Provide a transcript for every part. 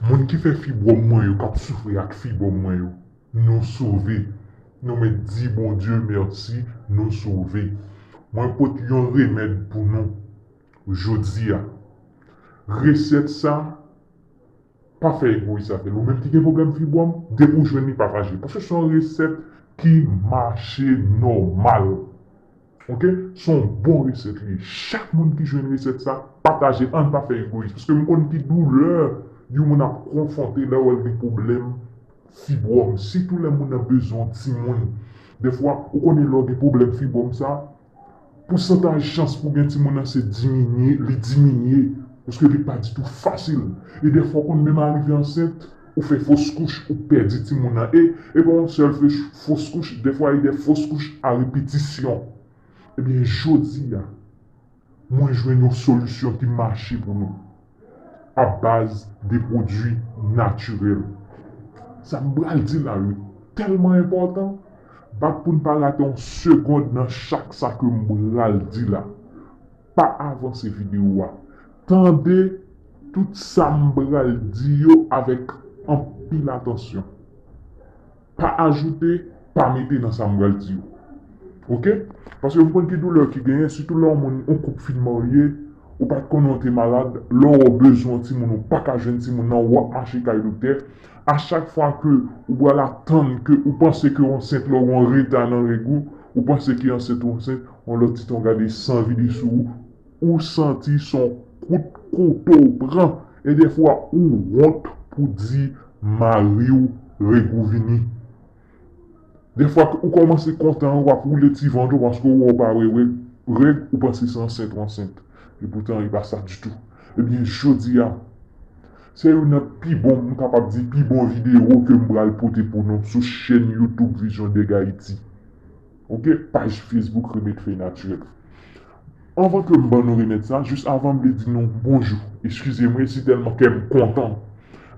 Moun ki fè fibwòm mwen yo kap soufri ak fibwòm mwen yo nou sove nou met di Bondye mèsi nou sove mwen pot yon remèd pou nou jodia resèt sa pa fè egoyis avèl ou menm ki gen pwoblèm fibwòm depi ou jwenn li patajel paske son resèt ki mache nòmal. Ok son bon reset li chak moun ki jwenn reset sa pataje ann pa fè egoyis paske m konn ki doulè yon moun ap konfwonte lè wèl gen pwoblèm fibwòm sitou lè moun nan bezwen yon timoun dèfwa ou konnen lè w gen pwoblèm fibwòm sa pousantaj chans pou gen timoun nan se diminye li diminye paske li pa ditou fasil e dèfwa konn menm arive ansent. Ou fè fos kouch ou pèdi timoun nan e e pa yon sèl fos kouch defwa e de fos kouch a repetisyon ebyen jodi a mwen jwenn yon solisyon ki mache pou nou a baz de pwodwi natirèl sa m pral di la yo tèlman enpòtan bat pou n pa rate yon segond nan chak sa ke m pral di la. Pa avanse video a. Tande tout sa m pral di yo avèk anpil atansyon. Pa ajoute, pa mete nan sa m pral di yo. Ok. Paske m konn ki doulè ki genyen, sitou lè yon moun, yon koup fin marye, ou pa t konnen ou te malad, lè ou bezwen yon timoun ou pa ka jwenn timoun nan, w ap mache kay doktè. A chak fwa ke ou pral atann ke ou panse ke w ansent lè ou gen yon reta nan règ ou, ou panse ke ansent ou ansent, Yon lòt ti ton gade san vide sou ou, ou santi son kout kouto ou pran e dèfwa ou wont pou di mari ou Regou vini. Dèfwa ou kòmanse kontan wap woule ti vant ou paske ou wè ou pa wè règ ou panse se ansent ou ansent e poutan e pa sa ditou. Ebyen jodi a se youn nan pi bon m kapab di pi bon videyo ke m pral pote pou nou sou chèn YouTube Vision Deg Haiti. Ou gen paj Facebook Remèd Fèy Natirèl? Anvan ke m ban nou remèd sa, jis avan m vle di nou bonjou, eskize mwen si tèlman kè m kontan,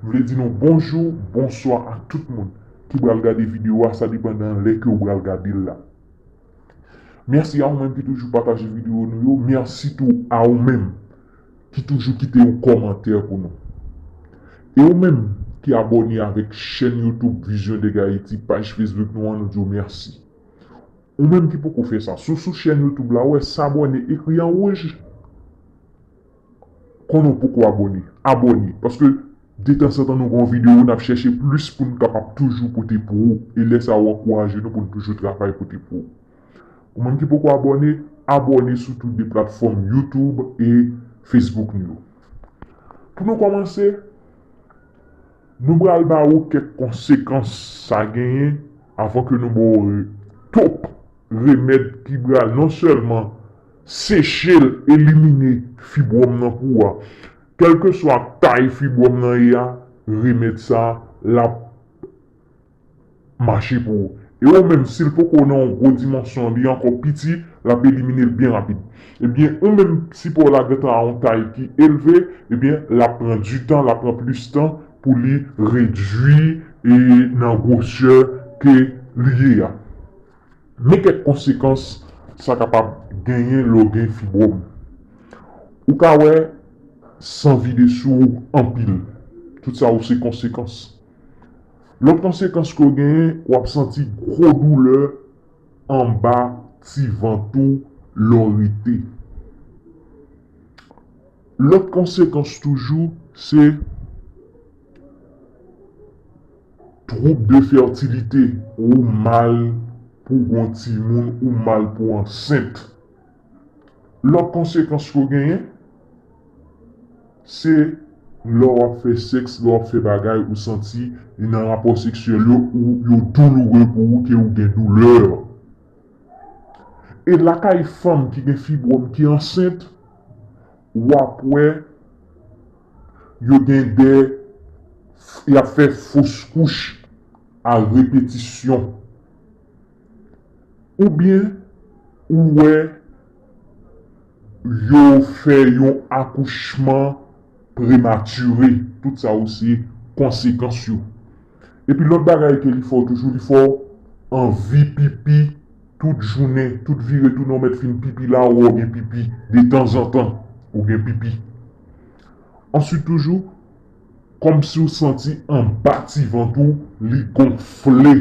m vle di nou bonjou, bonswa ak tout moun ki pral gade videyo a, sa depandan lè ke ou pral gade l la. Mèsi a ou menm ki toujou pataje videyo nou yo, mèsi tou a ou menm ki toujou kite yon kòmantè pou nou e ou menm ki abòne avèk chèn YouTube Vision de Gaiti paj Facebook nou an nou diw mèsi ou menm ki poko fè sa si w sou chèn YouTube la wè s'abonner ekri an wouj konnen w poko abòne abòne paske detansantan nou gen yon video nap chèche plis poun kapab toujou pote pou ou e lè sa ou ankouraje nou poun toujou travay pote pou ou. Ou menm ki poko abòne, abòne sou tou 2 platfòm YouTube e Facebook nou yo. Pou nou kòmanse, nou pral ba ou kèk konsekans sa genyen avan ke nou ba w top remèd ki pral non sèlman seche l, elimine fibwòm nan pou ou a. Kèlkeswa tay fibwòm nan ye a, remèd sa l ap. mache pou ou e ou menm sil poko nan yon gwo dimansyon li ankò piti lap eliminel byen rapid ebyen ou menm si pow la gentan a yon tay ki elve ebyen lap pran du tan lap pran plis tan pou li redwi e nan gwosè ke li ye a men kèk konsekans sa kapab genyen lèw gen fibwòm ou ka wè san vide sou ou anpil tout sa yo se konsekans. Lòt konsekans ke w genyen, w ap santi gwo doulè anba ti vant ou lè w rete. Lòt konsekans toujou se twoub de fètilite, ou mal pou w gen yon timoun, ou mal pou w ansent. Lòt konsekans yo genyen, se lè w ap fè sèks, lè w ap fè bagay ou santi nan rapò seksyèl yo ou yo douloure pou ou ke ou gen doulè. E lakay fanm ki gen fibwòm ki ansent, w ap wè yo gen de, y ap fè fos kouch a repetisyon. Ou byen ou wè yo fè yon akouchman prematire, tout sa yo se konsekans yo. Epi lòt bagay ke li fè w toujou, li fè w anvi pipi tout jounen, tout vire tounen ou mèt fin pipi la ou wè w gen pipi, detanzantan ou gen pipi. Answit toujou. Kòmsi w santi anba ti vant ou li gonfle.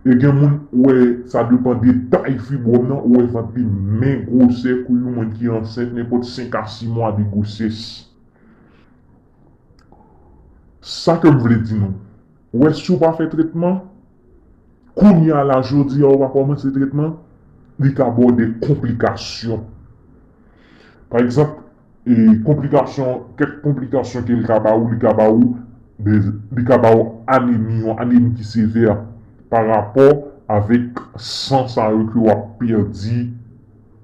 E gen moun ou wè sa depan de tay fibwòm nan ou wè vant li men gwosè kou yon moun ki ansent nenpòt 5 a 6 mwa de gwosès. Sa ke m vle di nou. Ou wè si w pa fè tretman, kounye a la jodi a ou pa kòmanse tretman, li ka ba w de konplikasyon. Pa egzanp. E konplikasyon, kèk konplikasyon ke li ka ba ou, li ka ba ou de, li ka ba ou anemi, yon anemi ki sevè pa rapò avèk san sa yo ke wap pèdi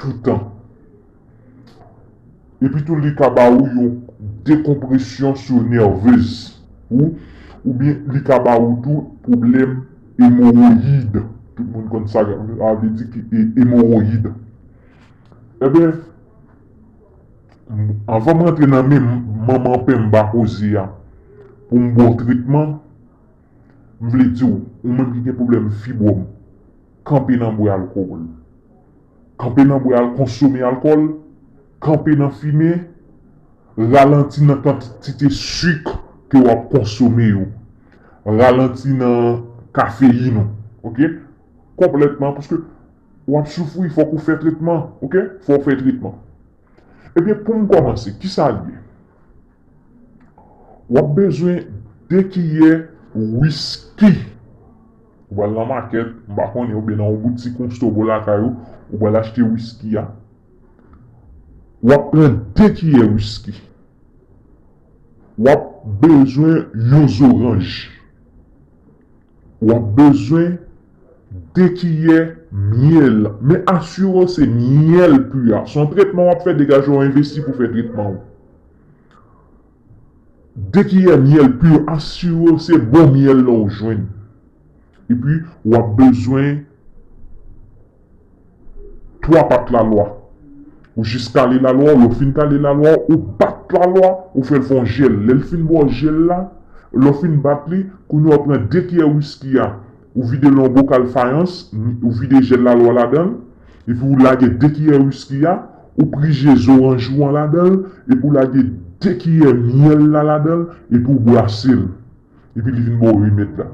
toutan. Epi tou li ka ba ou yon dekonpresyon sou nèvez ou, oubyen li ka ba ou tou pwoblèm emowoyid, tout moun konn sa sa vle di ki emowoyid. Eben. Anvan m rantre nan men manman pen m ba koze a pou m ba w tretman, m vle di w, ou menm ki gen pwoblèm fibwòm, kanpe nan bwè alkòl, kanpe nan bwè al konsome alkòl, kanpe nan fimen, ralanti nan kantite sik ke w ap konsome yo, ralanti nan kafeyin ou, ok, konplètman, paske. Wap soufri fok ou fè tretman ok fòw fè tretman ebyen poum kòmanse kisal ye wap bezwen de kiyè wisky ou pral nan makèt m pa konnen oubyen nan yon boutik yon stò bò lakay ou ou pral achte wisky a wap pran de kiyè wisky wap bezwen yon zoranj. W ap bezwen 2 kiyè myèl, men asire w se myèl pu a. Se yon tretman w ap fè, degaje w envesti pou w fè tretman w. 2 kiyè myèl pu, asire w se bon myèl la w jwenn. Epi w ap bezwen. 3 pat lalwa ou jis kale lalwa ou lè ou fin kale lalwa ou ou bat lalwa ou fèl fon jèl lèl fin ba w jèl la lè ou fin bat li kounye a ou pran 2 kiyè wiski a ou videl nan yon bokal fayans ou vide jèl lalwa ladanl epi ou lage 2 kiyè wiski a ou prije zoranj ou an ladanl epi ou lage 2 kiyè myèl la ladanl epi ou brasel epi li vin ba w remèd la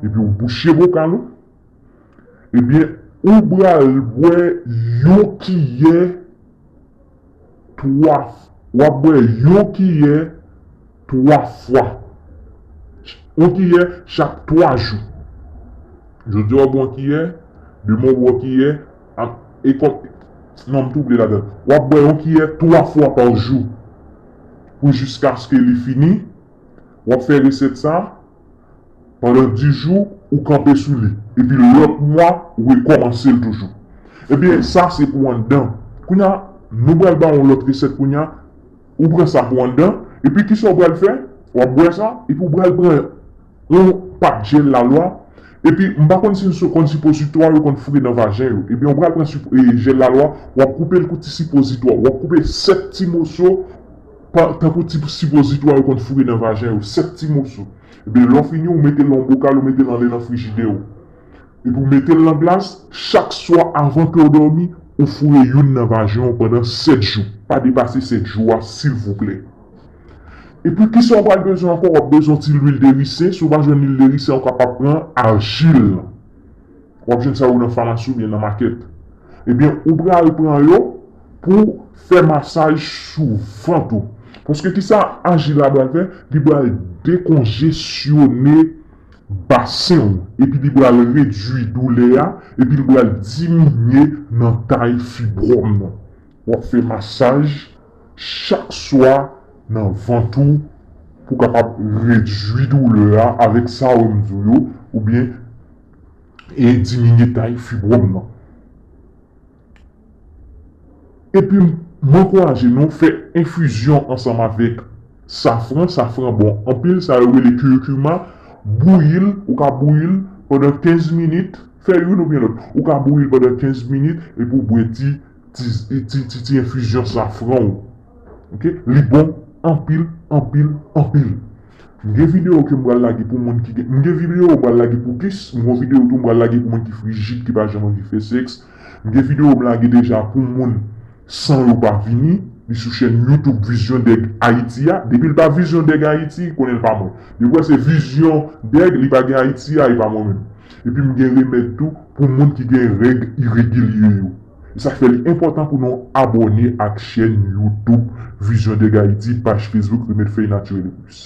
epi ou bouche bokal ou. Ebyen ou pral bwè yon kiyè 3 wap bwè yon kiyè 3 fwa yon kiyè chak 3 jou jodi wap bwè yon kiyè demen wap bwè yon kiyè e kòm non m twouble ladann wap bwè yon kiyè 3 fwa pa jou pou jiskaske li fini wap fè resèt sa. Pandan 10 jou ou kanpe sou li epi lòt mwa ou rekòmanse l toujou. Ebyen sa se pou anndan. Kounya nou pral ba ou yon lòt resèt kounya ou pran sa pou anndan epi kisa ou pral fè wap bwè sa epi ou pral pran yon pat jèl lalwa epi m pa konn si nou konn sipositwa yo konn foure nan vajen yo ebyen ou pral pran jèl lalwa wap koupe l kou ti sipozitwa wap koupe 7 ti moso Tankou ti sipozitwa yo konn foure nan vajen yo, 7 ti moso. Ebyen lè w fini ou mete l nan yon bokal ou mete l anlè nan frijidè ou. Epi ou mete l nan glas, chak swa avan ke w dòmi, ou foure youn nan vajen w pandan 7 jou. Pa depase 7 jou a silvouplè. Epi kisa w pral bezwen ankò, w ap bezwen yon ti lwil de risen, si w pa jwenn lwil de risen ou kapab pran ajil. W ap jwenn sa yo nan famasi oubyen nan makèt. Ebyen ou pral pran yo pou fè masaj sou vant ou. Paske kisa aji la pral fè? Li pral dekonjesyone basen ou. Epi li pral redwi doulè a. Epi li pral diminye nan tay fibwòm nan. W ap fè masaj chak swa nan vant ou pou kapab redwi doulè a avèk sa yo m di w yo. Oubyen. e diminye tay fibwòm nan. Epi m ankouraje nou fè enfizyon ansanm avèk safran, safran bon anpil, sa yo rele kirikima, bouyi l, ou ka bouyi l pandan 15 minit, fè youn oubyen lòt, ou ka bouyi l pandan 15 minit epi w bwè ti ti enfizyon safran ou, li bon anpil, anpil, anpil. M gen video ke m pral lage pou moun ki gen M gen video m pral lage pou kis M gon video tou m pral lage pou moun ki frijid ki pa janm anvi fè sèks M gen video m lage deja pou moun san yo pa vini Li sou chèn YouTube Vizyon Dèg Ayiti a Depi l pa Vizyon Dèg Ayiti konnen l pa mwen Depi w wè se Vizyon Dèg li pa gen Ayiti a e pa mwen menm Epi m gen remèd tou pou moun ki gen règ iregilye yo E sa k fè li enpòtan pou nou abòne ak chèn YouTube Vizyon Dèg Ayiti paj Facebook Remèd Fèy Natirel e plis.